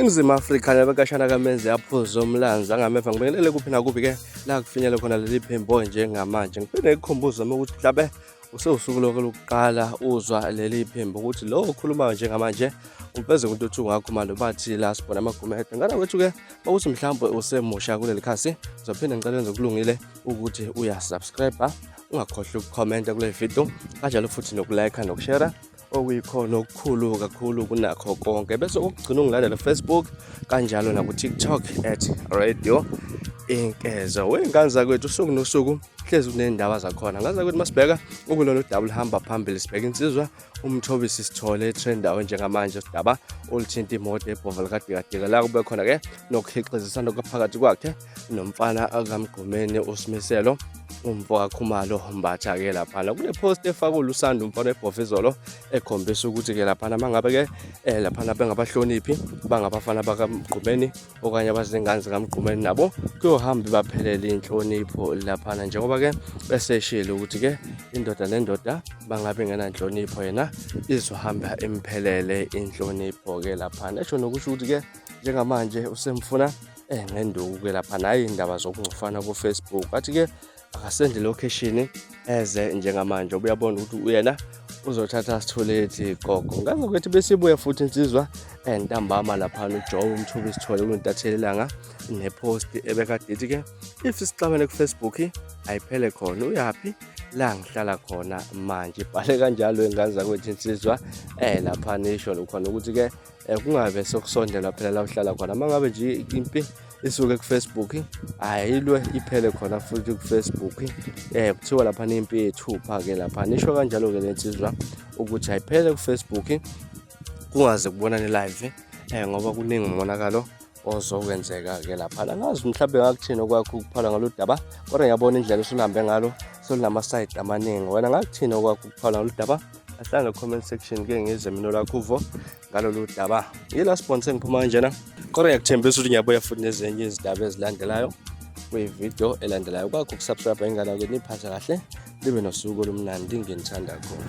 iningizimu afrika nabekashana kamenzi yaphuza omlanzi angameva ngibingelele kuphi nakuphi ke la kufinyele khona leli phimbo njengamanje ngiphinde ngikukhumbuze uma ukuthi mhlabe usewusuku lonke lokuqala uzwa leli phimbo ukuthi lo okhulumayo njengamanje ufeze umuntu othi ungakho manje bathi la sibona amagumede ngana kwethu-ke bakuthi mhlawumbe usemusha kuleli khasi uzophinde ngicela enze kulungile ukuthi uyasubscribe ungakhohlwa ukukhomenta kule video kanjalo futhi nokulayikha nokushera okuyikhona okukhulu kakhulu kunakho konke bese okugcina ungilandela Facebook kanjalo naku TikTok at radio inkezo wey'ngane zakwethu usuku nosuku hlezi kuney'ndaba zakhona ngane zakwethu masibheka ukulona udaba oluhamba phambili sibheka insizwa umthobisi sithole etrendawe njengamanje udaba oluthinta imoto ebhova likadikadika la kube khona-ke nokuhixizisana kwaphakathi kwakhe nomfana akamgqumeni usimiselo umfo kakhumalo mbatha ke laphana kune post efakwe lusanda umfana ebhofa izolo ekhombisa ukuthi ke laphana mangabe ke eh, laphana bengabahloniphi bangabafana bakamgqumeni okanye abazingane zikamgqumeni nabo kuyohamba ibaphelele inhlonipho laphana njengoba ke beseshile ukuthi ke indoda nendoda bangabe ngenanhlonipho yena izohamba imphelele inhlonipho ke laphana esho nokusho ukuthi ke njengamanje usemfuna eh ngenduku ke lapha nayi indaba zokungcofana ku Facebook athi ke akasendle location eze njengamanje ubuyabona ukuthi uyena uzothatha sitholethi gogo ngangokuthi besibuya futhi insizwa entambama lapha ujoe umthuba isithole kuntathelelanga nepost ebekadithi ke if sixabene kufacebook ayiphele khona uyaphi la ngihlala khona manje ibhale kanjalo ingane zakwethu insizwa um lapha nisho lokhona ukuthi-ke um kungabe sokusondela phela la uhlala khona uma ngabe nje impi isuke kufacebook ayilwe iphele khona futhi kufacebook um kuthiwa laphana impi yethupha-ke laphana isho kanjalo-ke le nsizwa ukuthi ayiphele kufacebook kungaze kubonane live um ngoba kuningi umonakalo ozokwenzeka-ke laphana ngazi mhlawumbe ngakuthini okwakho ukuphala ngalo daba kodwa ngiyabona indlela osulihambe ngalo solunama-side amaningi wena ngakuthini okwakho ukuphala ngalo daba ahlanga comment section ke ngize mina lakho uvo ngalolu daba yila sibon sengiphuma kanjena kodwa ngiyakuthembisa ukuthi ngiyabuya futhi nezinye izindaba ezilandelayo kwividiyo elandelayo kwakho ukusubscribe ingane ke niphathe kahle libe nosuku olumnandi nginithanda khona